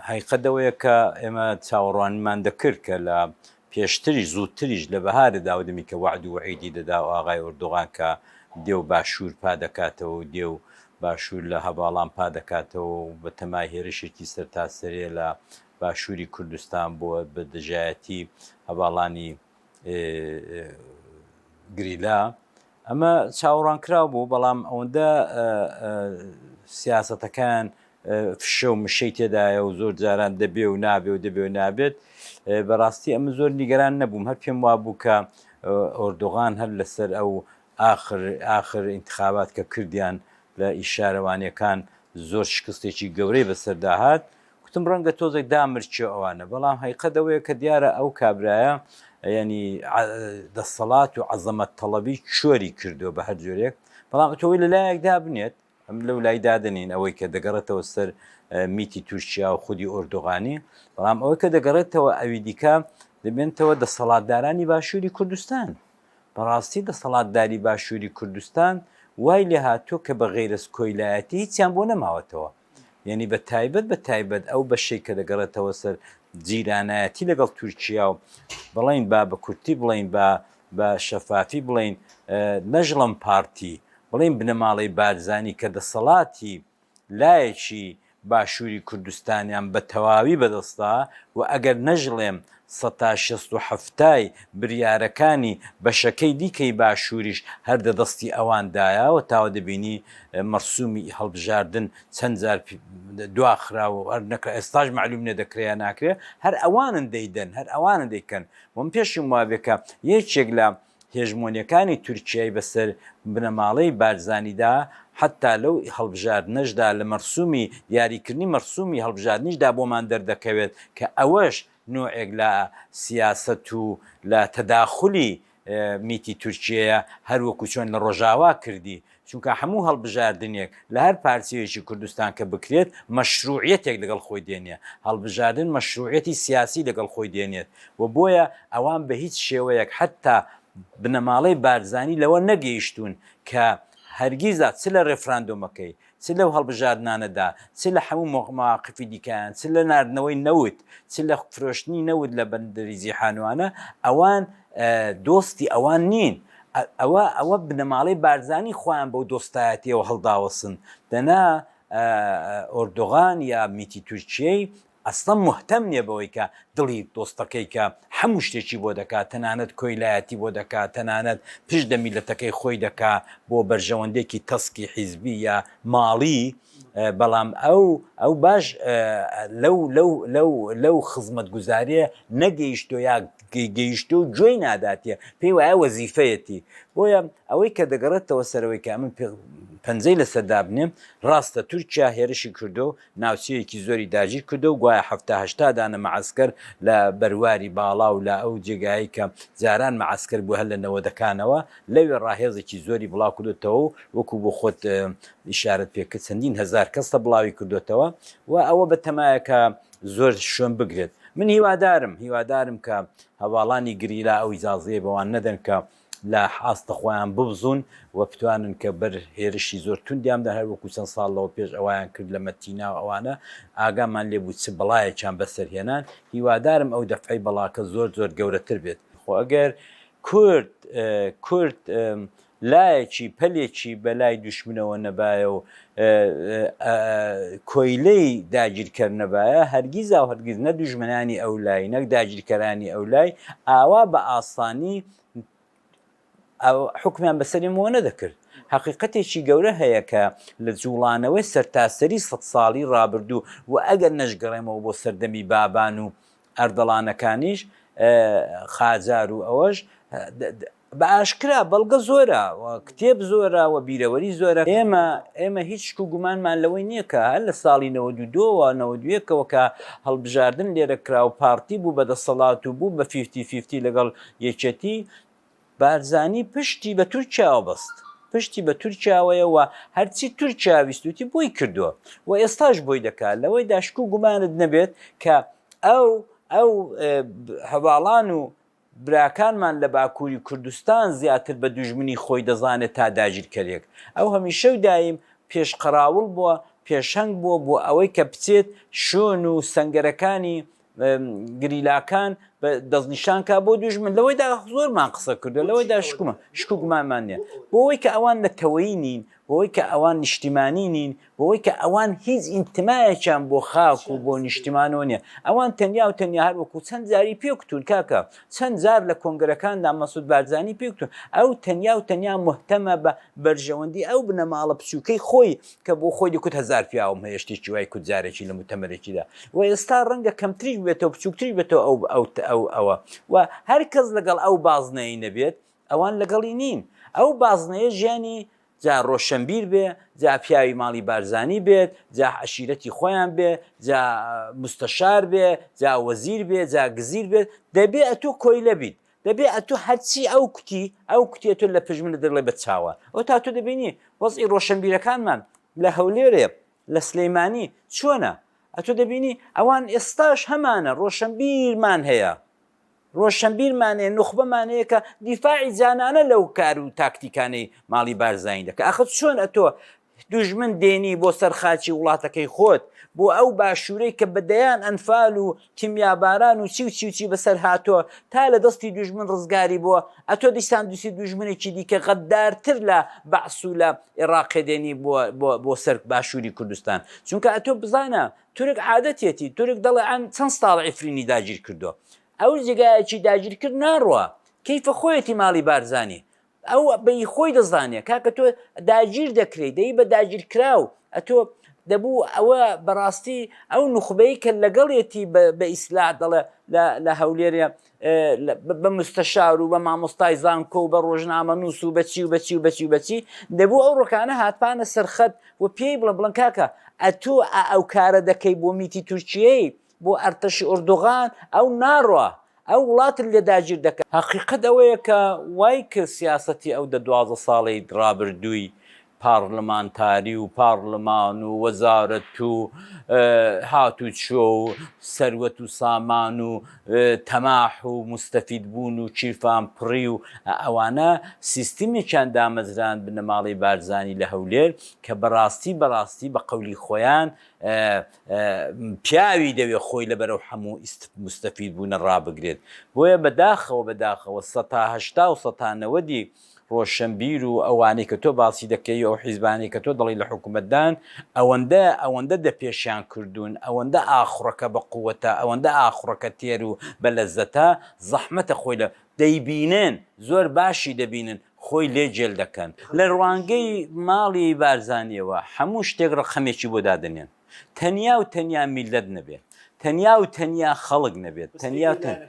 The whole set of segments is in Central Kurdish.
هەقیقەت ئەوەیە کە ئێمە چاوەڕوانیمان دەکرد کە لە پێشتریش، زووتریش لە بەهارە داودمی کە وەعد و وەعیدی دەدا و ئاغای ئۆردوغان کە دێ و باشوور پا دەکاتەوە و دێ و باشوور لە هەڤاڵان پا دەکاتەوە و بە تەمای هێرشێکی سەرتاسەریە لە باشووری کوردستان بۆ بە دژایەتی هەڤاڵانی گریلا ئەمە چاوەڕوانکراو بوو، بەڵام ئەوەندە سیاسەتەکان فشە و مشەی تێدایە و زۆر جاران دەبێ و نابێ و دەبێ و نابێت بەڕاستی ئەمە زۆر نیگەران نەبووم هەر پێم وا بوو کە ئۆردوغان هەر لەسەر ئەو ئاخر ئاخر انتخابات کە کردیان لە ئیشارەوانیەکان زۆر شکستێکی گەورەی بەسەرداهات گوتم ڕەنگە تۆزێک دامرچێ ئەوانە، بەڵام هەیقەت ئەوەیە کە دیارە ئەو کابرایە یانی دەسەڵات و عەزەمەت تەڵەبی چۆری کردووە بە هەر جۆرێک، بەڵام ئەتۆی لە لایەک دابنێت ئەم لەو لای دادنین ئەوەی کە دەگەڕێتەوە سەر میتی تورکیا و خودی ئۆردوغانی، بەڵام ئەوەی کە دەگەڕێتەوە ئەوی دیکە دەبێنتەوە دەسەڵاتدارانی باشووری کوردستان. بەڕاستی دەسەڵاتداری باشووری کوردستان وای لێهاتووە کە بە غەیرەز کۆیلایەتی هیچیان بۆ نەماوەتەوە. یعنی بە تایبەت بە تایبەت ئەو بەشێک کە دەگەڕێتەوە سەر جیرانایەتی لەگەڵ تورکیا و بڵین با بە کورتی بڵین با بە شەفافی بڵین نەژڵم پارتی بڵین بنەماڵەی بارزانی کە دەسەڵاتی لایەکی باشووری کوردستانیان بە تەواوی بەدەستدا و ئەگەر نەژڵێم سەتا شەست و حەفتای بریارەکانی بەشەکەی دیکەی باشووریش هەر دە دەستی ئەوان دایە و تاوە دەبینی مەرسوومی ئی هەڵبژاردن چەند جار دوا خرا و هەر نەکرا ئێستاش مەعلووم نیە دەکرێ یا ناکرێ هەر ئەوانن دەیدەن هەر ئەوانن دەیکەن وە من پێشم وابێ کە یەکێک لە هێژمۆنیەکانی تورکیای بەسەر بنەماڵەی بارزانیدا حەتا لەو هەڵبژاردنەشدا لە مەرسومی دیاریکردنی مەرسومی هەڵبژاردنیشدا بۆمان دەردەکەوێت کە ئەوەش نۆعێک لە سیاسەت و لە تەداخولی میتی تورکیەیە هەروەکو چۆن لە ڕۆژاوا کردی چونکە هەموو هەڵبژاردنێک لە هەر پارچەیەکی کوردستان کە بکرێت مەشرووعیەتێک لەگەڵ خۆی دێنێ، هەڵبژاردن مەشرووعیەتی سیاسی لەگەڵ خۆی دێنێت و بۆیە ئەوان بە هیچ شێوەیەک حەتتا بنەماڵەی بارزانی لەوە نەگەیشتوون کە هەرگیزا چ لە رێفراندۆمەکەی، چ لەو هەڵبژاردنانەدا، چ لە هەموو مەواقفی دیکەیان، چ لە ناردنەوەی نەوت، چ لە فرۆشتنی نەوت لە بەندەری جیحانوانە، ئەوان دۆستی ئەوان نین، ئەوە ئەوە بنەماڵەی بارزانی خۆیان بەو دۆستایەتیەوە هەڵداوەسن دەنا ئۆردۆغان یا میتی تورکیەی ئەسڵەن مهتەم نیە بەوەی کە دڵی دۆستەکەی کە هەموو شتێکی بۆ دەکات تەنانەت کۆیلایەتی بۆ دەکات تەنانەت پشت دە میلەتەکەی خۆی دەکا بۆ بەرژەوەندێکی تەسکی حیزبی یا ماڵی بەڵام ئەو ئەو باش لەو لەو لەو لەو خزمەت گوزارێ نەگەیشتۆ یا گەیشتوە و گوێی ناداتیە پێی وایە وەزیفەیەتی بۆیە ئەوەی کە دەگەڕێتەوە سەرەوەی کە من پەنجەی لەسەر دابنێم ڕاستە تورکیا هێرشی کردو و ناوچەیەکی زۆری داگیر کردو و گوایە حەفتا هەشتا دانە مەعەسکەر لە بەرواری باڵا و لە ئەو جێگایەی کە جاران مەعەسکەر بوو هەر لە نەوەدەکانەوە لەوێ ڕاهێزێکی زۆری بڵاو کردوتەوە و وەکو بۆ خۆت ئیشارەت پێکرد چەندین هەزار کەس لە بڵاوی کردوتەوە و ئەوە بە تەمایە کە زۆر شوێن بگرێت من هیوادارم هیوادارم کە هەڤاڵانی گریلا ئەو ئیجازەیە بەوان نەدەن کە لە ئاستە خۆیان ببزوون و بتوانن کە بەر هێرشی زۆر توندیان بدەن هەر وەکو چەند ساڵ لەوە پێش ئەوەیان کرد لە مەتینا و ئەوانە ئاگامان لێ بوو چ بەڵایەکیان بەسەر هێنان هیوادارم ئەو دەفعەی بەڵاکە زۆر زۆر گەورەتر بێت خۆ ئەگەر کورد کورد لایەکی پەلێکی بە لای دوشمنەوە نەبایە و کۆیلەی داگیرکەر نەبایە، هەرگیز و هەرگیز نە دوژمنانی ئەو لای، نە داگیرکەرانی ئەو لای ئاوا بە ئاسانی حوکمیان بە سەرمەوە نەدەکرد. هەقیقەتێکی گەورە هەیە کە لە جووڵانەوەی سەرتاسەری سەد ساڵی ڕابردوو و ئەگەر نەشگەڕێمەوە بۆ سەردەمی بابان و ئەردەڵانەکانیش، قاجار و ئەوەش، بە ئاشکرا بەڵگە زۆرە و کتێب زۆرە و بیرەوەری زۆرە. ئێمە ئێمە هیچ شک و گومانمان لەوەی نییە کە هەر لە ساڵی نەوەد و دوو و نەوەد و یەک ەوە کە هەڵبژاردن لێرە کرا و پارتی بوو بە دەسەڵات و بوو بە فیفتی فیفتی لەگەڵ یەکێتی، بارزانی پشتی بە تورکیاوە بەست. پشتی بە تورکیاوەیە و هەرچی تورکیا ویستوویەتی بۆی کردووە و ئێستاش بۆی دەکات. لەوەیدا شک و گومانت نەبێت کە ئەو ئەو هەڤاڵان و براکانمان لە باکوری کوردستان زیاتر بە دوژمنی خۆی دەزانێت تا داگیرکەرێک، ئەو هەمیشە و دایم پێش قەراوڵ بووە، پێشەنگ بووە بۆ ئەوەی کە بچێت شۆن و سەنگەرەکانی گریلاکان دەستنیشان کا بۆ دوژمن، لەوەیدا زۆرمان قسە کردوە، لەوەیدا شک و گومانمان نیە بۆ ئەوەی کە ئەوان نەتەوەیی نین، بۆ ئەوەی کە ئەوان نیشتیمانی نین، بەوەی کە ئەوان هیچ ئینتمایەکیان بۆ خاک و بۆ نیشتیمانەوە نییە ئەوان تەنیا و تەنیا هەر وەکو چەند جاری پێکتون کاکە چەند جار لە کۆنگرەکاندا مەسود بارزانانی پێکتون ئەو تەنیا و تەنیا مهتەمە بە بەرژەوەندی ئەو بنەماڵە بچووکەی خۆی کە بۆ خۆی دەکوت هزار پیاوم هەیە شتێکی وای کوت جارێکی لە متەمەرێکیدا و ئێستا ڕەنگە کەمتریش بێتەوە بچووکتری بێتەوە ئەو ئەو ئەو ئەوە و هەر کەس لەگەڵ ئەو بازنەی نەبێت ئەوان لەگەڵی نین ئەو بازنەیە ژیانی جا ڕۆشەنبیر بێ جا پیاوی ماڵی بارزانی بێت جا عەشیرەتی خۆیان بێ جا مستەشار بێ جا وەزیر بێ جا گزیر بێت دەبێ ئەتوو کۆیلە بیت دەبێ ئەتوو هەرچی ئەو کوتی ئەو کوتێ تۆ لە پژمنە دەڵێ بە چاوان ئەو تا تۆ دەبینی وەزی ڕۆشەنبیرەکانمان لە هەولێرێ لە سلەیمانی چۆنە ئەتوو دەبینی ئەوان ئێستاش هەمانە ڕۆشەنبیرمان هەیە رۆشنبیر مانەیە، نوخبە مانەیە کە دیفاعی جانانە لەو کار و تاکتیکانەی ماڵی بارزانی دەکا. ئاخر چۆن ئەتۆ دوژمن دێنی بۆ سەر خاکی وڵاتەکەی خۆت، بۆ ئەو باشوورەی کە بە دەیان ئەنفال و کیمیاباران و چی و چی و چی بەسەر هاتۆ تا لە دەستی دوژمن رزگاری بووە، ئەتۆ دیسان دووسی دوژمنێکی دیکە غەددارتر لە بەعس و لە ئێڕاقێ دێنی بۆ سەر باشووری کوردستان. چونکە ئەتۆ بزانە تورک عادەتیەتی تورک دەڵێ ئەم چەند ساڵە عفرینی داگیر کردوە ئەو جێگایەکی داگیر کرد ناڕوا کەیفە خۆیەتی ماڵی بارزانی ئەو بە ی خۆی دەزانێ کاکە تۆ داگیر دەکرێی دەی بە داگیر کراو ئەتۆ دەبوو ئەوە بەڕاستی ئەو نوخبەی کە لەگەڵێتی بە ئیسلا دەڵێ لە هەولێرێ بە مستەشار و بە مامۆستای زانکۆ و بە ڕۆژنامەنووس و بە چی و بە چی و بە چی و بە چی، دەبوو ئەو ڕۆکانە هاتبانە سەر خەت و پێی بڵێن، بڵێن کاکە ئەتۆ ئا ئەو کارە دەکەی بۆ میتی تورکیەی، بۆ ئەرتەشی ئۆردوغان، ئەو ناڕوا، ئەو وڵاتت لێ داگیر دەکا. هەقیقەت ئەوەیە کە وای کرد سیاسەتی ئەو دە دوازدە ساڵەی ڕابردووی پاڕلمانتاری و پاڕلمان و وەزارەت و هاتوچۆ و سەروەت و سامان و تەماح و موستەفید بوون و کیرفان پڕی و ئەوانە سیستمێکیان دامەزراند بنەماڵەی بارزانی لە هەولێر کە بەڕاستی بەڕاستی بە قەولی خۆیان پیاوی دەوێ خۆی لە بەرەو حەموو موستەفید بوونە ڕابگرێت بۆیە بەداخەوە بەداخەوە سەتا هەشتا و سەتا نەوەدی ڕۆشنبیر و ئەوانەی کە تۆ باسی دەکەی و ئەو حیزبانەی کە تۆ دەڵێی لە حکومەتدان ئەوەندە ئەوەندە دەپێشیان کردوون ئەوەندە ئاخوڕەکە بە قووەتە ئەوەندە ئاخوڕەکە تێر و بە لەزەتە زەحمەتە خۆی لە دەیبینن زۆر باشی دەبینن خۆی لێ جێل دەکەن لە ڕوانگەی ماڵی بارزانیەوە هەموو شتێک ڕەقەمێکی بۆ دادەنێن. تەنیا و تەنیا میللەت نەبێت، تەنیا و تەنیا خەڵک نەبێت، تەنیا و تەنیا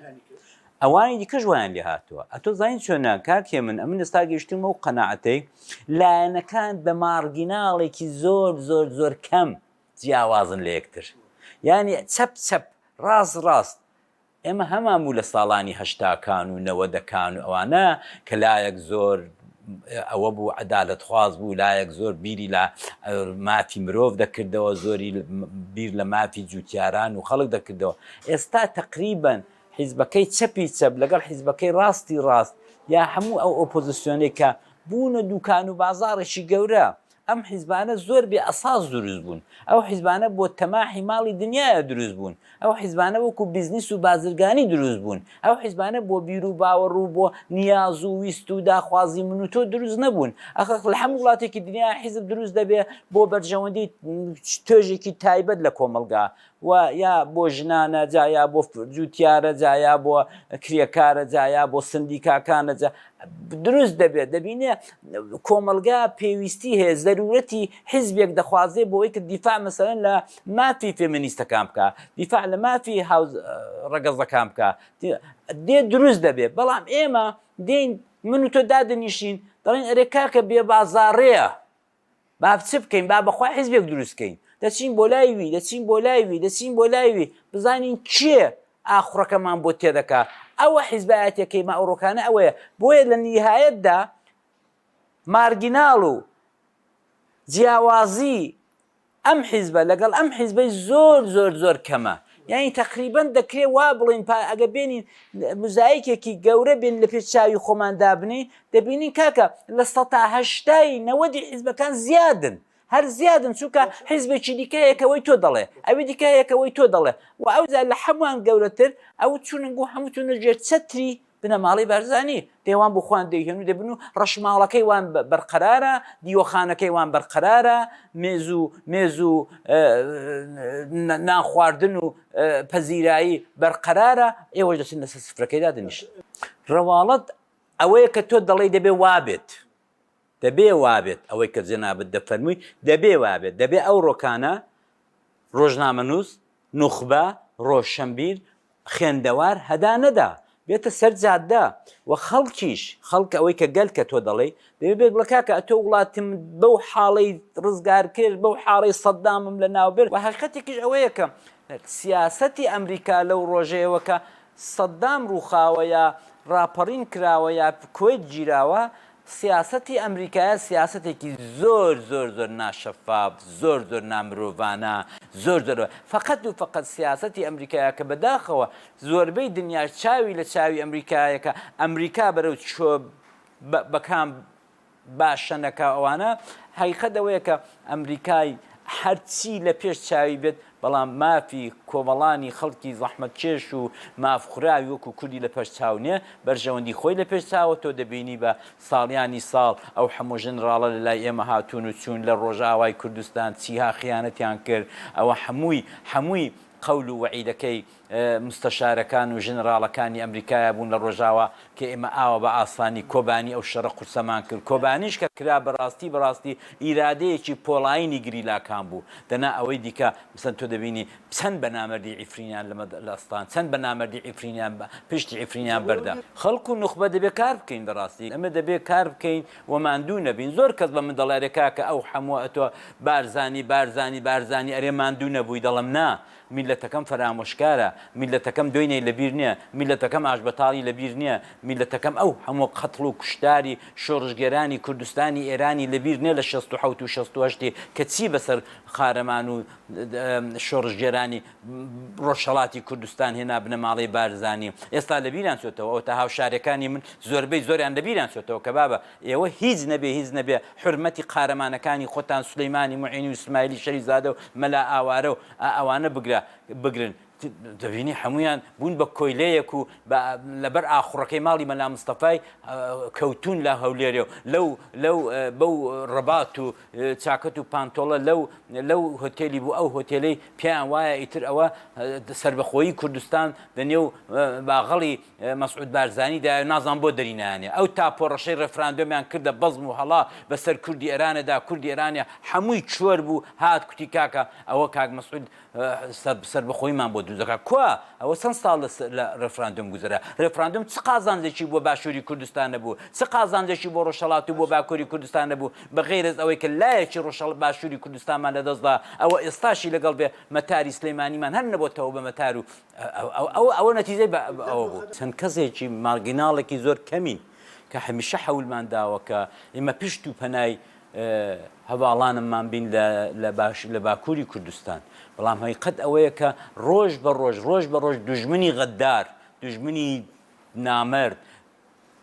ئەوانی دیکەش وایان لێ هاتووە. ئەتۆ زانیت چۆنە کاک هێمن، ئەمن ئێستا گەیشتوومە ئەو قەناعەتەی لایەنەکان بە مارگیناڵێکی زۆر زۆر زۆر کەم جیاوازن لە یەکتر. یانی چەپ چەپ، ڕاست ڕاست. ئێمە هەمان بوو لە ساڵانی هەشتاکان و نەوەدەکان و ئەوانە کە لایەک زۆر ئەوە بوو عەدالەتخواز بوو لایەک زۆر بیری لە مافی مرۆڤ دەکردەوە زۆری بیر لە مافی جووتیاران و خەڵک دەکردەوە ئێستا تەقریبەن حیزبەکەی چەپی چەپ لەگەڵ حیزبەکەی ڕاستی ڕاست یا هەموو ئەو ئۆپۆزسیۆنەی کە بوونە دووکان و بازاڕێکی گەورە ئەم حیزبانە زۆر بێ ئەساس دروست بوون، ئەو حیزبانە بۆ تەماحی ماڵی دنیایە دروست بوون، ئەو حیزبانە وەکو بیزنیس و بازرگانی دروست بوون، ئەو حیزبانە بۆ بیرو باوەڕ و بۆ نیاز و ویست و داخوازی من و تۆ دروست نەبوون، ئەخ لە هەموو وڵاتێکی دنیا حیزب دروست دەبێ بۆ بەرژەوەندی توێژێکی تایبەت لە کۆمەڵگا، و یا بۆ ژنانە جا یا بۆ جوتیارە جا یا بۆ کرێکارە جا یا بۆ سندیکاکانە جا دروست دەبێت دەبینێ کۆمەلگا پێویستی هەیە زەرورەتی حیزبێک دەخوازێ بۆی کە دیفاع مەسەرەن لە مافی فێمنیستەکان بکە دیفاع لە مافی هاو ڕەگەزەکان بکە دێ دروست دەبێت بەڵام ئێمە دێین من و تۆ دادنیشین دەڵین ئەرێ کاکە بێ بازاڕەیە با چ بکەین با بەخوا حیزبێک دروست کەین دەچین بۆ لای وی دەچین بۆ لای وی دەچین بۆ لای وی بزانین کێ ئاخڕەکەمان بۆ تێدەکا ئەوە حیزبایەتەکەی مە ئەوڕۆکانە ئەوەیە بۆیە لە نیهایەتدا مارگیناڵ و جیاوازی ئەم حیزبە لەگەڵ ئەم حیزبەی زۆر زۆر زۆر کەمە یانی تەقریبەن دەکرێ وا بڵێین پا ئەگە بێنین مزایکێکی گەورە بێن لە پێش چاوی خۆمان دابنین دەبینین کاکە لە سەتا هەشتای نەوەدی حیزبەکان زیادن هەر زیادن چونکە حیزبێکی دیکەیەکەوەی تۆ دەڵێ ئەوی دیکەیەکەوەی تۆ دەڵێ و ئەوجا لە هەمووان گەورەتر ئەو چوننگ و هەمووتونە ژێر چەتری بنەماڵەی بارزانی پێوان بۆ خۆیان دەیهێن و دەبن و ڕەشماڵەکەی وان بەرقەرارە، دیوەخانەکەی وان بەرقەرارە، مێز و مێز و نان خواردن و پەزیرایی بەرقەرارە، ئێوەش دەچن لەسەر سفرەکەی دادەنیشن. ڕواڵەت ئەوەیە کە تۆ دەڵێی دەبێ وابێت. دەبێ وابێت ئەوەی کە جەنابت دەفەرمووی دەبێ وابێت، دەبێ ئەو ڕۆکانە ڕۆژنامەنووس، نوخبە، ڕۆشەنبیر، خوێندەوار، هەدا نەدا بێتە سەر جادە و خەڵکیش، خەڵک ئەوەی کە گەل کە تۆ دەڵێی دەبێ بێت بڵێ کاکە ئەتۆ وڵاتمت بەو حاڵەی ڕزگار کرد، بەو حاڵەی سەدامم لەناو برد و هەقیقەتێکیش ئەوەیە کە سیاسەتی ئەمریکا لەو ڕۆژەیەوە کە سەدام ڕووخاوە یا ڕاپەڕین کراوە یا کوەیت گیراوە، سیاسەتی ئەمریکایە سیاسەتێکی زۆر زۆر زۆر ناشەفاف، زۆر زۆر نامرۆڤانە، زۆر زۆر فەقەت و فەقەت سیاسەتی ئەمریکایە کە بەداخەوە زۆربەی دنیاش چاوی لە چاوی ئەمریکایە کە ئەمریکا بەرەو چۆ بە کام باشە نەکا ئەوانە هەقیقەت ئەوەیە کە ئەمریکای هەرچی لە پێش چاوی بێت بەڵام مافی کۆمەڵانی خەڵکی زەحمەت کێش و ماف خوراوی وەکو کوردی لە پەش چاو نیە بەرژەوەندی خۆی لە پێش چاوە تۆ دەبینی بە ساڵیانی ساڵ ئەو هەموو ژنڕاڵە لە لای ئێمە هاتوون و چوون لە ڕۆژئاوای کوردستان چیها خیانەتیان کرد ئەوە هەمووی هەمووی قەول و وەعیدەکەی مستەشارەکان و ژنراڵەکانی ئەمریکایا بوون لە ڕۆژاوا کە ئێمە ئاوا بە ئاسانی کۆبانی ئەو شەڕە قورسەمان کرد کۆبانیش کە کرا بە ڕاستی بە ڕاستی ئیرادەیەکی پۆڵایینی گریلاکان بوو دەنا ئەوەی دیکە مەسەن تۆ دەبینی چەند بە نامەردی عیفرینیان لە مەد لە ئەستان چەند بە نامەردی عیفرینیان بە پشتی عیفرینیان بەردا خەڵک و نوخبە دەبێ کار بکەین بە ڕاستی ئەمە دەبێ کار بکەین و ماندوو نەبین زۆر کەس بە من دەڵێ ئەرێ کاکە ئەو حەمووە ئەتۆ بارزانی بارزانی بارزانی ئەرێ ماندوو نەبووی دەڵێم نا میللەتەکەم فەرامۆشکارە، میللەتەکەم دۆینەی لەبیر نیە، میللەتەکەم ئاشبەتاڵی لەبیر نیە، میللەتەکەم ئەو هەموو قەتڵ و کوشتاری شۆڕشگێرانی کوردستانی ئێرانی لەبیر نیە لە شەست و حەوت و شەست و هەشت ی کە چی بەسەر قارەمان و شۆڕشگێرانی ڕۆژهەڵاتی کوردستان هێنا بنەماڵەی بارزانی ئێستا لەبیریان چۆتەوە ئەوەتا هاوشاریەکانی من زۆربەی زۆریان لەبیریان چۆتەوە کەبابە ئێوە هیچ نەبێ هیچ نەبێ حورمەتی قارەمانەکانی خۆتان سولەیمانی موعینی و سمایلی شەریف زادە و مەلا ئاوارە و ئا ئەوانە بگرە بگرن دەبینی حەموویان بوون بە کۆیلەیەک و بە لەبەر ئاخوڕەکەی ماڵی مەلا مستەفای کەوتوون لە هەولێرێ و لەو لەو بەو ڕەبات و چاکەت و پانتۆڵە لەو لەو هۆتێلی بوو ئەو هۆتێلەی پێیان وایە ئیتر ئەوە سەربەخۆیی کوردستان دە نێو باغەڵی مەسعود بارزانی دایەو نازانم بۆ دەری نایانێ ئەو تاپۆڕەشەی ڕێفراندۆمیان کردە بەزم و هەڵا بەسەر کوردی ئێرانە دا کوردی ئێرانێ حەمووی چۆر بوو هات کوتی کاکە ئەوە کاک مەسعود سەربەخۆیمان بۆ دروزەکە کوا ئەوە چەند ساڵ لە ڕێفراندۆم گوزرا ڕێفراندۆم چ قازانجێکی بۆ باشووری کوردستان نەبوو چ قازانجێکی بۆ ڕۆژەڵات و بۆ باکووری کوردستان نەبوو بە غیرەز ئەوەی کە لایەکی ڕۆژەڵ باشووری کوردستانمان لەدەستدا ئەوە ئێستاشی لەگەڵ بێ مەتاری سلەیمانیمان هەر نەبۆتەوە بە مەتار و ئەوە نەتیجەی بە ئەوە بوو. چەند کەسێکی مارگیناڵێکی زۆر کەمین کە هەمیشە حەولمان داوە کە ئێمە پشت و پەنای هەڤاڵانمان بین لە باکووری کوردستان، بەڵام هەقیقەت ئەوەیە کە ڕۆژ بە ڕۆژ، ڕۆژ بە ڕۆژ دوژمنی غەددار، دوژمنی نامەرد،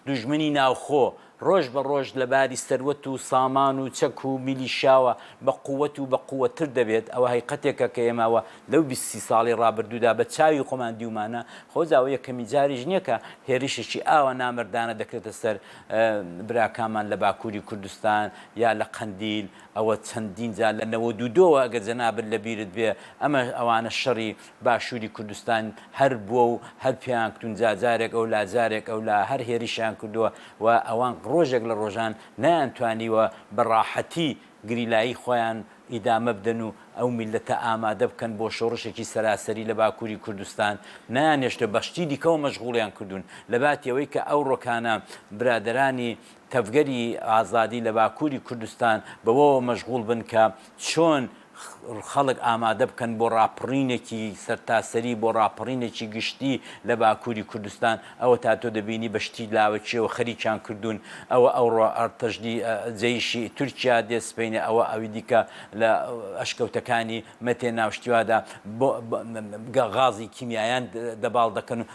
دوژمنی ناوخۆ ڕۆژ بە ڕۆژ لە باری سەروەت و سامان و چەک و میلیشیاوە بە قوت و بە قوت تر دەبێت، ئەوە هەیقەتێکە کە ئێمە ئەوە لەو بیست سی ساڵی ڕابردوودا بە چاوی خۆمان دیومانە، خۆزا ئەوە یەکەمین جاریش نیە کە هێرشێکی ئاوا نامەردانە دەکرێتە سەر براکانمان لە باکوری کوردستان یا لە قەندیل، ئەوە چەندین جار لە نەوەد و دووەوە ئەگەر جەنابت لە بیرت بێ ئەمە ئەوانە شەڕی باشوری کوردستان هەر بوە و هەر پێیان کوتون جا جارێک ئەولا جارێک ئەولا هەر هێرشیان کردوە و ئەوان ڕۆژێک لە ڕۆژان نەیان توانیوە بە ڕاحەتی گریلایی خۆیان ئیدامە بدەن و ئەو میللەتە ئامادە بکەن بۆ شۆڕشێکی سەراسەری لە باکوری کوردستان نەیانهێشتە بە شتی دیکەوە مەشغوڵیان کردون لەباتی ئەوەی کە ئەوڕۆکانە برادەرانی تەڤگەری ئازادی لە باکوری کوردستان بەوەوە مەشغوڵ بن کە چۆن خەڵک ئامادە بکەن بۆ ڕاپڕینێکی سەرتاسەری، بۆ ڕاپەڕینێکی گشتی لە باکووری کوردستان، ئەوەتا تۆ دەبینی بە شتی لاوەکییەوە خەریکیان کردوون، ئەوە ئەوڕۆ ئەرتەشدی جەیشی تورکیا دێ سپەینێ، ئەوە ئەوی دیکە لە ئەشکەوتەکانی مەتێ ناوشتیوادا بۆ غازی کیمیایان دەباڵ دەکەن و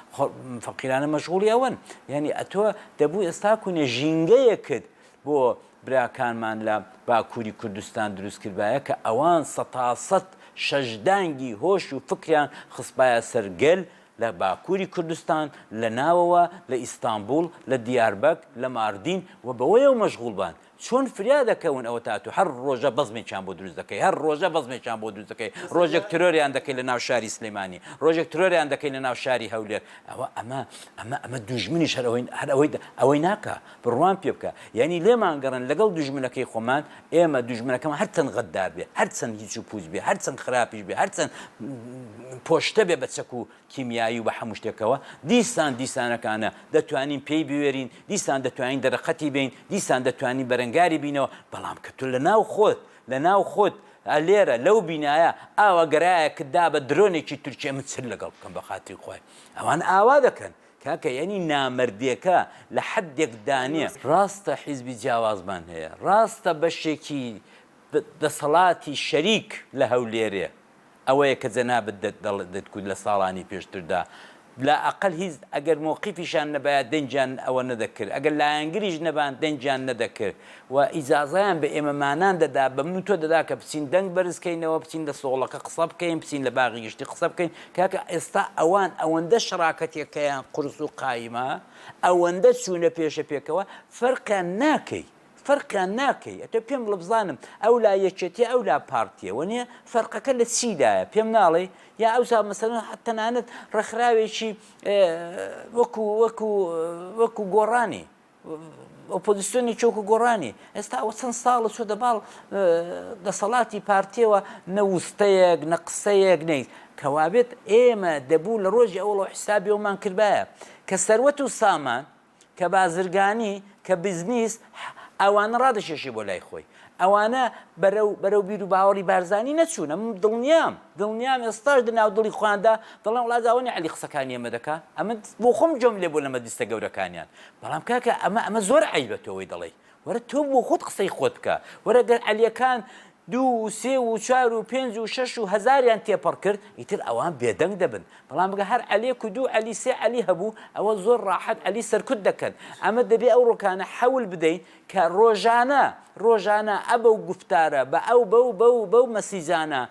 فەقیرانە مەشغوڵی ئەوەن. یانی ئەتۆ دەبوو ئێستاکوونێ ژینگەیەکت بۆ براکانمان لە باکوری کوردستان دروست کردبایە کە ئەوان سەتاسەت شەش دانگی هۆش و فکریان خستبایە سەر گەل لە باکوری کوردستان لە ناوەوە لە ئیستانبوڵ لە دیاربەک لە ماردین و بەوەیەوە مەشغوڵ بان چۆن فریا دەکەون ئەوە تا تۆ هەر ڕۆژە بەزمێکیان بۆ دروست دەکەی هەر ڕۆژە بەزمێکیان بۆ دروست دەکەی ڕۆژێک ترۆریان دەکەی لە ناو شاری سلیمانی ڕۆژێک ترۆریان دەکەی لە ناو شاری هەولێر ئەوە ئەمە ئەمە ئەمە دوژمنیش هەر ئەوەی هەر ئەوەی ئەوەی ناکا بڕوام پێ بکە یانی لێمان گەڕێن لەگەڵ دوژمنەکەی خۆمان ئێمە دوژمنەکەمان هەر چەند غەدار بێ هەر چەند هیچ و پوچ بێ هەر چەند خراپیش بێ هەر چەند پۆشتە بێ بە چەک و کیمیایی و بە هەموو شتێکەوە دیسان دیسانەکانە دەتوانین پێی بوێرین دیسان دەتوانین دەرەقەتی بین دیسان دەتوانین بەرەنگاری بینەوە بەڵام کە تۆ لەناو خۆت لەناو خۆت لێرە لەو بینایە ئاوا گەرایەکت دا بە درۆنێکی تورکیە من چل لەگەڵ بکەم بە خاتری خوای ئەوان ئاوا دەکەن کاکە یەعنی نامەردێکە لە حەدێک دانێ. ڕاستە حیزبی جیاوازمان هەیە، ڕاستە بەشێکی دەسەڵاتی شەریک لە هەولێرێ، ئەوەیە کە جەنابت دەت دەڵێت دەتگوت لە ساڵانی پێشتردا لا ئەقەل هیچ ئەگەر مۆقیفیشان نەبایە دەنگیان ئەوە نەدەکرد، ئەگەر لایەنگریش نەبان دەنگیان نەدەکرد. و ئیجازەیان بە ئێمەمانان دەدا، بە من و تۆ دەدا کە بچین دەنگ بەرز کەینەوە، بچین لە سۆڵەکە قسە بکەین، بچین لە باغی گشتی قسە بکەین. کاکە ئێستا ئەوان ئەوەندە شەراکەتێکەیان قورس و قایمە، ئەوەندە چوونە پێشە پێکەوە، فەرقیان ناکەی، فەرقیان ناکەی. ئەتۆ پێم بڵە بزانم ئەولا یەکێتییە ئەولا پارتییە، وەنیە فەرقەکە لە چیدایە، پێم ناڵێی؟ یا ئەوسا مەسەلەن تەنانەت ڕێکخراوێکی وەکوو، وەکوو، وەکوو گۆڕانی، ئۆپۆزسیۆنی چۆک و گۆڕانی ئێستا ئەوە چەند ساڵە چۆتە باڵ دەسەڵاتی پارتیەوە نە وستەیەک نە قسەیەک نیت کەوابێت ئێمە دەبوو لە ڕۆژی ئەوڵە حسابیەوەمان کردایە کە سەروەت و سامان کە بازرگانی کە بزنیس ئەوانە ڕادەشێشی بۆ لای خۆی ئەوانە بەرەو بەرەو بیر و باوەڕی بارزانی نەچوونە من دڵنیام دڵنیام ئێستاش لە ناو دڵی خۆیاندا دەڵێن وڵا جاوەنی عەلی قسەکانی ئەمە دەکا ئەمە بۆ خۆم جۆم لێ بۆ لە مەجلیسە گەورەکانیان بەڵام کاکە ئەمە ئەمە زۆر عەیبە تۆ ئەوەی دەڵێی وەرە تۆ بۆ خۆت قسەی خۆت بکە وەرە گەر عەلیەکان دوو و سێ و چوار و پێنج و شەش و هەزاریان تێپەڕ کرد ئیتر ئەوان بێدەنگ دەبن بەڵام بگە هەر عەلێک و دوو عەلی سێ عەلی هەبوو ئەوە زۆر ڕاحەت عەلی سەرکوت دەکەن ئەمە دەبێ ئەو ڕۆکانە حەول بدەین کە ڕۆژانە ڕۆژانە ئەبەو گوفتارە بە ئەو بەو بەو بەو مەسیجانە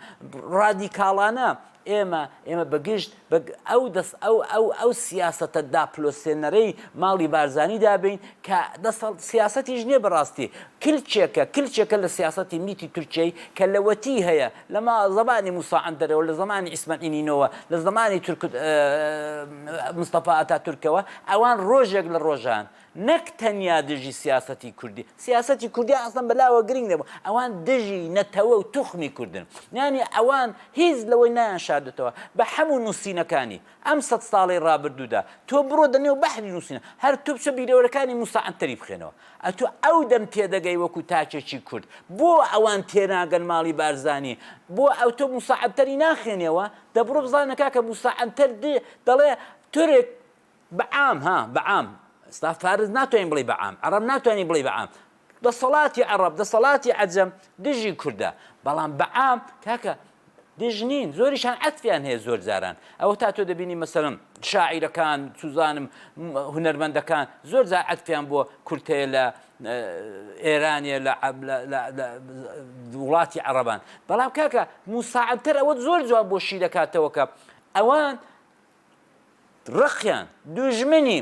ڕادیکاڵانە ئێمە ئێمە بەگشت بە ئەو دەست ئەو ئەو ئەو سیاستە داپلۆسێنەرەی ماڵی بارزانانی دابین کە دەسەڵ سیاستیش نییە بەڕاستی کلچێکە کلچێکە لە سیاستی میتی تورکیای کە لەوەتی هەیە لەما زمانی موساعندەرەوە لە زمانی ئیسمەعینینەوە لە زمانی تورک مستەفا ئەتا تورکەوە ئەوان ڕۆژێک لە ڕۆژان نەک تەنیا دژی سیاسەتی کوردی، سیاسەتی کوردیان ئەسڵەن بەلاوە گرینگ نەبوو، ئەوان دژی نەتەوە و توخمی کوردن، یانی ئەوان هیچ لەوەی نایانشاردۆتەوە بە حەموو نووسینەکانی ئەم سەد ساڵەی ڕابردوودا، تۆ بڕۆ دەنێو بەحری نووسینە، هەر تۆ بچۆ بیرەوەرەکانی موسا عەنتەری بخوێنەوە، ئەتۆ ئەو دەم تێدەگەی وەکوو تاکێکی کورد، بۆ ئەوان تێناگەن ماڵی بارزانی، بۆ ئەتۆ موسا عەنتەری ناخوێنیەوە، دەبڕۆ بزانە کاکە موسا عەنتەر دەڵێ تورک، بە عام ها بە عام ئێستا فارس ناتوانین بڵێ بە عام عەڕەب ناتوانین بڵێ بە عام دەسەڵاتی عەڕەب دەسەڵاتی عەجەم دژی کوردە بەڵام بە عام کاکە دژ نین زۆریشان عەتفیان هەیە زۆر جاران ئەوە تا تۆ دەبینی مەسەرم شاعیرەکان سوزانم هونەرمەندەکان زۆر جار عەتفیان بۆ کورتەیە لە ئێرانە لە وڵاتی عەربان بەڵام کاکە موساعدتر ئەوە زۆر جواب بۆ شی دەکاتەوەکە ئەوان ڕقیان، دوژمنی،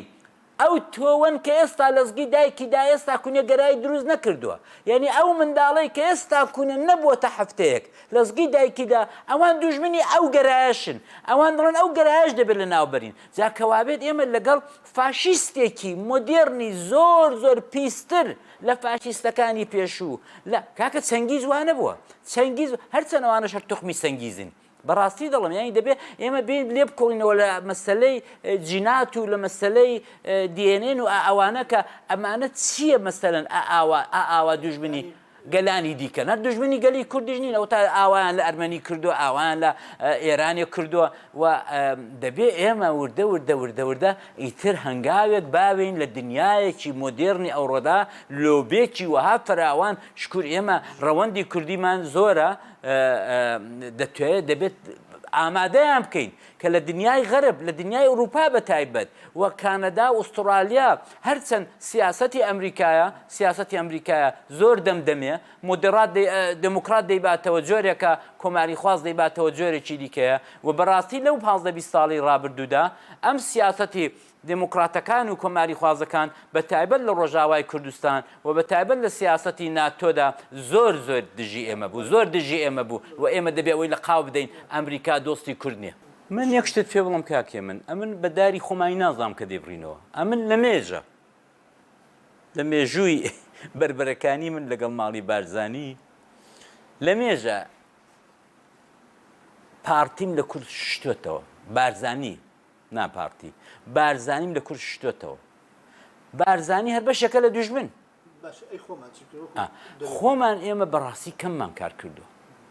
ئەو تۆوەن کە ئێستا لەزگی دایکی دا ئێستا کونە گەرایی دروست نەکردوە یانی ئەو منداڵەی کە ئێستا کونە نەبوەتە هەفتەیەک لەزگی دایکی دا ئەوان دوژمنی ئەو گەرایەشن ئەوان دڵێن ئەو گەرایەش دەبێت لەناو بەرین جا کەوابێت ئێمە لەگەڵ فاشیستێکی مۆدێرنی زۆر زۆر پیستر لە فاشیستەکانی پێشوو لە کاکە چەنگیز وانەبوە چەنگیز هەرچەن ئەوانەش هەر توخمی چەنگیزن بەڕاستی دەڵێم یانی دەبێت ئێمە بین لێ بکۆڵینەوە لە مەسلەی جینات و لە مەسلەی دیێنێن و ئەوانە کە ئەمانە چییە مەسەرن ئاوا ئاوا دوژمنی گەلانی دیکە نەر دژمنی گەلی کوردیش نین ئەو تا ئاوایان لە ئەرمەنی کردو ئاوایان لە ئێرانێک کردووە و دەبێ ئێمە وردە وردە وردە وردە ئیتر هەنگاوێک باوین لە دنیایەکی مۆدێرنی ئەوڕۆدا لۆبێکی وەها فراوان شکور ئێمە ڕەوەندی کوردیمان زۆرە دەتوێت دەبێت ئامادەیان بکەین کە لە دنیای غەرب لە دنیای ئەوروپا بە تایبەت و کانەدا و ئوسترالیا هەرچەند سیاسەتی ئەمریکایە سیاسەتی ئەمریکایە زۆر دەمدەمێ مدرات دموکرات دەیباتەوە جۆرێکە کۆماری خواز دەیباتەوە جۆرێکی دیکەیە و بەڕاستی لەو 15 ساڵی ڕابردوودا ئەم سیاسەتی دێموکڕاتەکان و کۆماریخوازەکان بە تایبەت لە ڕۆژاوای کوردستان و بە تایبەت لە سیاسەتی ناتۆدا زۆر زۆر دژی ئێمە بوو، زۆر دژی ئێمە بوو و ئێمە دەبێ ئەوەی لە قاو بدەین ئەمریکا دۆستی کورد نیە. من یەک شتت پێ بڵێم کاک هێمن، ئەمن بە داری خۆمانی نازانم کە دەیبڕینەوە، ئەمن لە مێژە، لە مێژووی بەربەرەکانی من لەگەڵ ماڵی بارزانی، لە مێژە پاڕتیم لە کورد شتۆتەوە، بارزانی، نا پارتی بارزانیم لە کورد شتۆتەوە بارزانی هەر بەشێکە لە دوژمن خۆمان ئێمە بەڕاستی کەممان کار کردو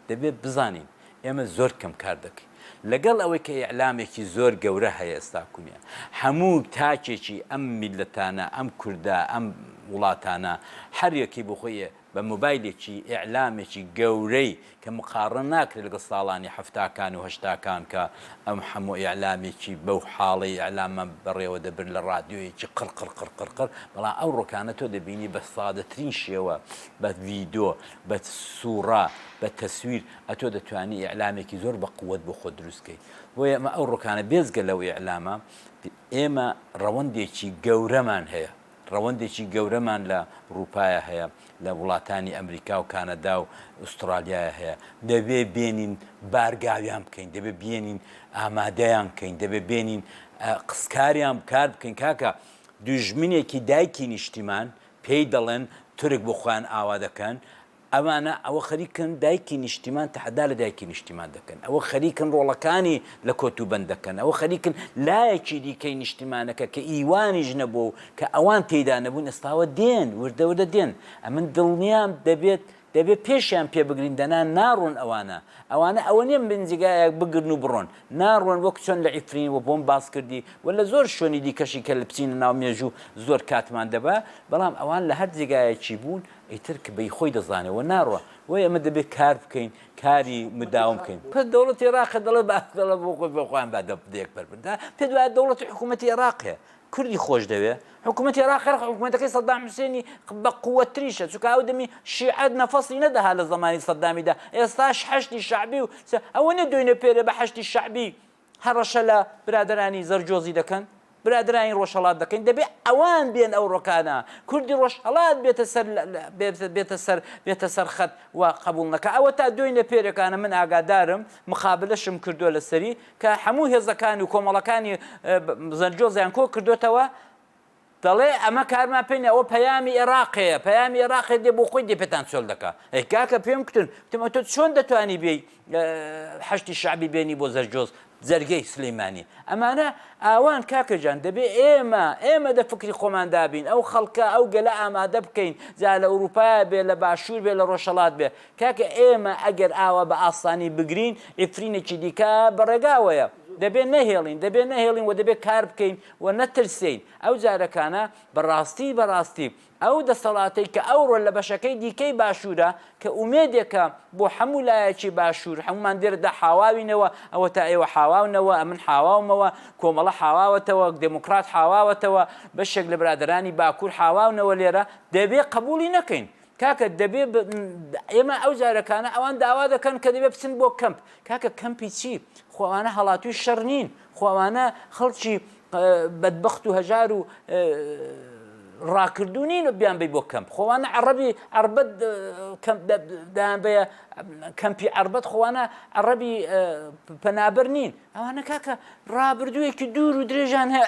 دەبێت بزانین ئێمە زۆر کەم کار دەکەین لەگەڵ ئەوەی کە ئیعلامێکی زۆر گەورە هەیە ئێستا کونیە هەموو تاکێکی ئەم میلەتانە ئەم کووردا ئەم وڵاتانە هەریەکی بخۆیە بە مۆبایلێکی ئیعلامێکی گەورەی کە مقاڕنە ناکرێت لەگەڵ ساڵانی حەفتاکان و هەشتاکان کە ئەم حەموو ئیعلامێکی بەو حاڵەی ئیعلامان بەڕێوە دەبرد لە ڕادیۆیەکی قڕ قڕ قڕ قڕ قڕ بەڵام ئەوڕۆکانە تۆ دەبینی بە سادەترین شێوە بە ڤیدۆ بە سووڕا بە تەسویر ئەتۆ دەتوانی ئیعلامێکی زۆر بە قووەت بۆ خۆت دروست کەیت بۆیە ئەمە ئەوڕۆکانە بێزگە لەو ئیعلامە ئێمە ڕەوەندێکی گەورەمان هەیە ڕەوەندێکی گەورەمان لە ڕووپایە هەیە، لە وڵاتانی ئەمریکا و کانەدا و ئوستڕالیایە هەیە، دەبێ بێنین بارگاویان بکەین، دەبێ بێنین ئامادەیان بکەین، دەبێ بێنین قسکاریان بکار بکەین، کاکە دوژمنێکی دایکی نیشتیمان پێی دەڵێن تورک بۆ خۆیان ئاوا دەکەن، ئەوانە ئەوە خەریکن دایکی نیشتیمان تەحەدا لە دایکی نیشتیمان دەکەن، ئەوە خەریکن ڕۆڵەکانی لە کۆتوبەند دەکەن، ئەوە خەریکن لایەکی دیکەی نیشتیمانەکە کە ئیوانیش نەبووە و کە ئەوان تێیدا نەبوون ئێستاوە دێن، وردە وردە دێن. ئەمن دڵنیام دەبێت دەبێت پێشیان پێ بگرین دەنا ناڕۆن ئەوانە. ئەوانە ئەوە نییە من جێگایەک بگرن و بڕۆن. ناڕۆن وەک چۆن لە عیفرین و بۆم باس کردی و لە زۆر شوێنی دیکەشی کە بچینە ناو مێژوو زۆر کاتمان دەبا، بەڵام ئەوان لە هەر جێگایەکی بوون، ئیتر کە بەی خۆی دەزانێ و ناڕوا وەی ئەمە دەبێ کار بکەین کاری مداوم بکەین پس دەوڵەتی ئێراقە دەڵێ با دەڵێ بۆ خۆی بۆ خۆیان با دە دێک پەر بن دا پێت وایە دەوڵەتی حکوومەتی ئێراقێ کوردی خۆش دەوێ حکوومەتی ئێراق خێر حکوومەتەکەی سەدام حوسێنی بە قووەتتریشە چونکە ئەو دەمی شیعەت نەفەسی نەدەها لە زەمانی سەدامیدا ئێستاش حەشدی شەعبی و ئەوە نیە دوێنێ پێرێ بە حەشدی شەعبی هەڕەشە لە برادەرانی زەرجۆزی دەکەن برادەرانی ڕۆژهەڵات دەکەین دەبێ ئەوان بێن ئەو ڕۆکانە کوردی ڕۆژهەڵات بێتە سەر بێتە سەر بێتە سەر خەت و قەبوڵ نەکا ئەوەتا دۆینە پێرەکانە من ئاگادارم مقابلەشم کردوە لەسەری کە هەموو هێزەکان و کۆمەڵەکانی زەرجۆزیان کۆ کردۆتەوە دەڵێ ئەمە کارمان پێ نیە ئەوە پەیامی ئێراقێە پەیامی ئێراقێ دێ بۆ خۆی دێ پێتان چۆل دەکا ئەی کاکە پێم کوتن وتم ئەتۆ چۆن دەتوانی بێی حەشتی شعبی بێنی بۆ زەرجۆز جەرگەی سلەیمانی ئەمانە ئاوان کاکەجان دەبێ ئێمە ئێمە دە فکری خۆمان دابین ئەو خەڵکە ئەو گەلە ئامادە بکەین جا لە ئەوروپا بێ لە باشوور بێ لە ڕۆژەڵات بێ کاکە ئێمە ئەگەر ئاوا بە ئاسانی بگرین ئیفرینێکی دیکە بەڕێگاوەیە دەبێ نەهێڵین دەبێ نەهێڵین و دەبێ کار بکەین و نەترسێین، ئەو جارەکانە بە ڕاستی بە ڕاستی ئەو دەسەڵاتەی کە ئەوڕۆ لە بەشەکەی دیکەی باشوورە کە ئومێدێکە بۆ حەموو لایەکی باشوور، حەموومان دێرەدا حاواوینەوە، ئەوەتا ئێوە حاواونەوە، ئەمن حاواومەوە، کۆمەڵە حاواوەتەوە، دێمۆکڕات حاواوەتەوە، بەشێک لە برادەرانی باکوور حاواونەوە لێرە، دەبێ قەبووڵی نەکەین. کاکە دەبێ ب ئێمە ئەو جارەکانە ئەوان داوا دەکەن کە دەبێ بچن بۆ کەمپ کاکە کەمپی چی خوانە هەڵاتوی شەڕ نین خوانە خەڵکی بەدبخت و هەژار و ڕاکردو نین و بیان بی بۆ کەمپ خۆوانە عربی عربەت دایانبەیە کەمپی عربەت خۆوانە عربی پەنابەر نین ئەوانە کاکە ڕابردوویەکی دوور و درێژان هەیە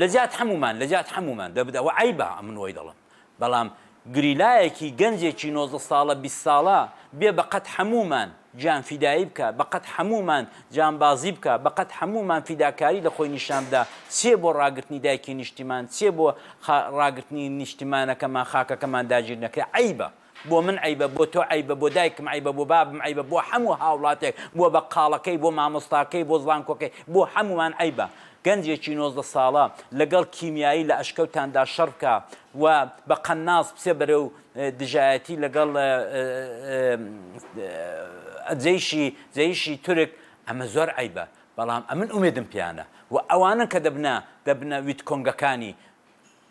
لەجیات حەموومان لەجیات حەموومان دەبت ئەوە عەیبە من وەی دەڵم بەڵام گریلایەکی گەنجێکی نۆزدە ساڵە بیست ساڵە بێ بەقەت حەموومان گیان فیدایی بکا بەقەت حەموومان جانبازی بکا بەقەت حەموومان فیداکاری لە خۆی نیشان بدا چێ بۆ ڕاگرتنی دایکی نیشتیمان چێ بۆ ڕاگرتنی نیشتیمانەکەمان خاکەکەمان داگیر نەکرێ عەیبە بۆ من عەیبە، بۆ تۆ عەیبە، بۆ دایکم عەیبە، بۆ بابم عەیبە، بۆ هەموو هاوڵاتێک، بۆ بەقاڵەکەی، بۆ مامۆستاکەی، بۆ زانکۆکەی، بۆ هەموومان عەیبە گەنجێکی نۆزدە ساڵە لەگەڵ کیمیایی لە ئەشکەوتاندا شەڕ بکا و بە قەناس بچێ بەرەو دژایەتی لەگەڵ جەیشی جەیشی تورک، ئەمە زۆر عەیبە، بەڵام ئەمن ئومێدم پێیانە و ئەوانەن کە دەبنە دەبنە ویتکۆنگەکانی.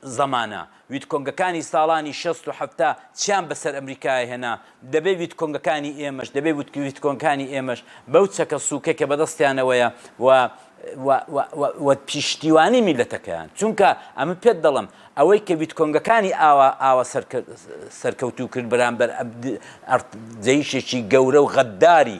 زمانە ویتکۆنگەکانی ساڵانی شەست و حەفتا چیان بەسەر ئەمریکایە هێنا، دەبێ ویتکۆنگەکانی ئێمەش، دەبێ ویتکۆنگەکانی ئێمەش بەو چەکە سووکەی کە بەدەستیانەوەیە و و و و و پیشتیوانی میللەتەکەیان، چونکە ئەمە پێت دەڵێم، ئەوەی کە ویتکۆنگەکانی ئاوا ئاوا سەرکەوتوو کرد بەرامبەر ئەرد جەیشێکی گەورە و غەدداری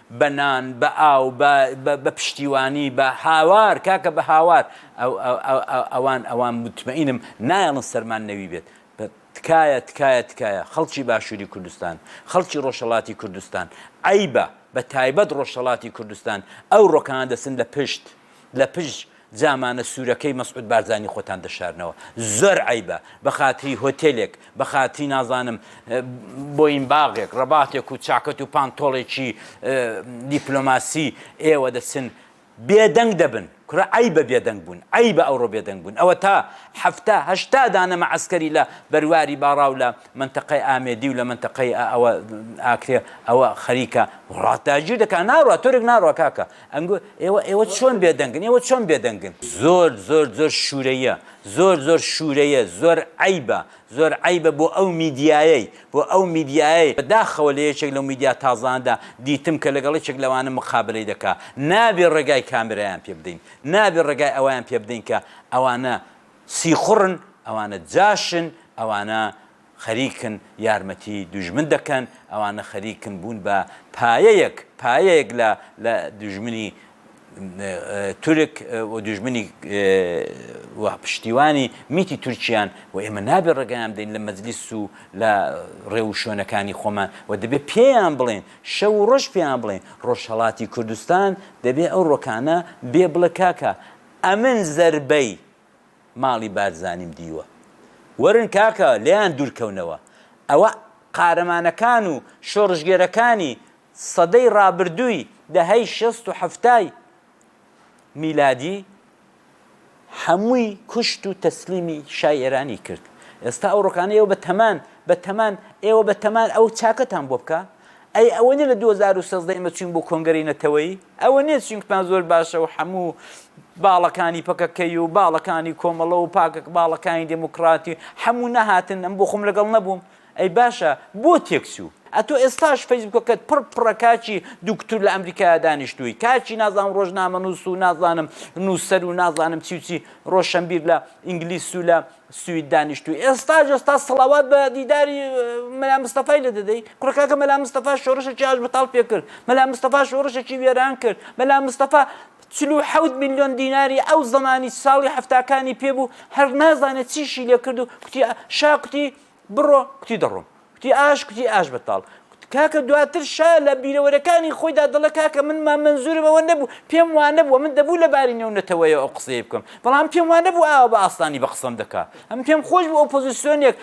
بە نان، بە ئاو، بە بە پشتیوانی، بە هاوار، کاکە بە هاوار، ئەوان ئەوان متمەینم نایەڵن سەرمان نەوی بێت، تکایە تکایە تکایە خەڵکی باشوری کوردستان، خەڵکی ڕۆژهەڵاتی کوردستان، عەیبە بە تایبەت ڕۆژهەڵاتی کوردستان ئەو ڕۆکانە دەچن لە پشت لە پشت، جامانە سورەکەی مەسعود بارزانی خۆتان دەشارنەوە زۆر عەیبە بەخاتری هۆتێلێک بەخاتری نازانم بۆین باغێک ڕەباتێک و چاکەت و پان تۆڵێکی دیپلۆماسی ئێوە دەچن بێدەنگ دەبن کورە ئەی بە بێدەنگ بوون ئەی بە ئەوڕۆ بێدەنگ بوون ئەوە تا هەفتا هەشتا دانەمە عسکەری لە بەرواری باڕا و لە منتەقەی ئامێدی و لە منتەقەی ئەوە ئاکرێ ئەوە خەریکە وڵات داگیر دەکە ناڕە تۆرێک ناڕە کاکە ئەنگۆ، ئێوە ئێوە چۆن بێدەنگن؟ ئێوە چۆن بێدەنگن؟ زۆر زۆر زۆر شورەییە زۆر زۆر شورەیە زۆر عەیبە زۆر عەیبە بۆ ئەو میدیایەی بۆ ئەو میدیایەی بەداخەوە لە یەکێک لەو میدیا تازانەدا دیتم کە لەگەڵ یەکێک لەوانە مقابەلەی دەکا نابێ ڕێگای کامێرایان پێ بدەین نابێ ڕێگای ئەوەیان پێ بدەین کە ئەوانە سیخوڕن ئەوانە جاشن ئەوانە خەریکن یارمەتی دوژمن دەکەن، ئەوانە خەریکن بوون بە پایەیەک پایەیەک لە لە دوژمنی تورک و دوژمنی و پشتیوانی میتی تورکیان و ئێمە نابێ ڕێگەیان بدەین لە مەجلیس و لە ڕێ و شوێنەکانی خۆمان و دەبێ پێیان بڵێن شەو و ڕۆژ پێیان بڵێن ڕۆژهەڵاتی کوردستان دەبێ ئەو ڕۆکانە بێ بڵێ کاکە ئەمن زەربەی ماڵی بارزانیم دیوە وەرن کاکە لێیان دورکەونەوە ئەوە قارەمانەکان و شۆڕشگێرەکانی سەدەی ڕابردووی دەهەی شەست و حەفتای میلادی هەمووی کوشت و تەسلیمی شای ئێرانی کرد ئێستا ئەو ڕۆکانە ئێوە بە تەمان بە تەمان ئێوە بە تەمان ئەو چاکەتان بۆ بکە ئەی ئەوە نیە لە دوو هەزار و سێزدە ئێمە چوین بۆ کۆنگرەی نەتەوەیی ئەوە نیە چوین کوتمان زۆر باشە و حەموو باڵەکانی پەکەکەی و باڵەکانی کۆمەڵە و پاکەکە باڵەکانی دێموکڕاتی حەموو نەهاتن ئەم بۆ خۆم لەگەڵ نەبووم ئەی باشە بۆ تێک چوو ئەتۆ ئێستاش فەیسبووکەکەت پڕ پڕە کاچی دوکتور لە ئەمریکایا دانیشتووی کاچی نازانم ڕۆژنامەنووس و نازانم نووسەر و نازانم چی و چی ڕۆشەنبیر لە ئینگلیس و لە سوید دانیشتوی ئێستاش ئێستا سڵاوات بە دیداری مەلا مستەفای لێ دەدەی کوڕە کاکە مەلا مستەفا شۆڕشێکی ئاشبەتاڵ پێ کرد مەلا مستەفا شۆڕشێکی وێران کرد مەلا مستەفا چل و حەوت ملیۆن دیناری ئەو زەمانی ساڵی هەفتاکانی پێ بوو هەر نازانێت چیشی لێ کرد و کوتی شا کوتی بڕۆ، کوتی دەڕۆم. کوتی ئاش، کوتی ئاش بەتاڵ. کاکە دواتر شا لە بیرەوەرەکانی خۆیدا دەڵێ کاکە من مام مەنزوورم ئەوە نەبوو، پێم وا نەبوو، من دەبوو لە باری نێو نەتەوەیەوە ئەو قسەیە بکەم، بەڵام پێم وا نەبوو ئاوا بە ئاسانی بە قسەم دەکا. ئەمن پێم خۆش بوو ئۆپۆزیسیۆنێک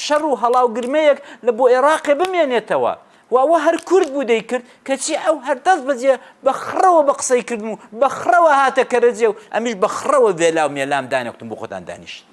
شەڕ و هەڵا و گرمەیەک لە بۆ ئێراقێ بمێنێتەوە و ئەوە هەر کورد بوو دەیکرد، کەچی ئەو هەر دەست بەجێ بە خڕەوە بە قسەی کردم و بە خڕەوە هاتە کەرەجێ و ئەمیش بە خڕەوە ڤێلا و مێلام دانێکتم بۆ خۆتان دانیشت.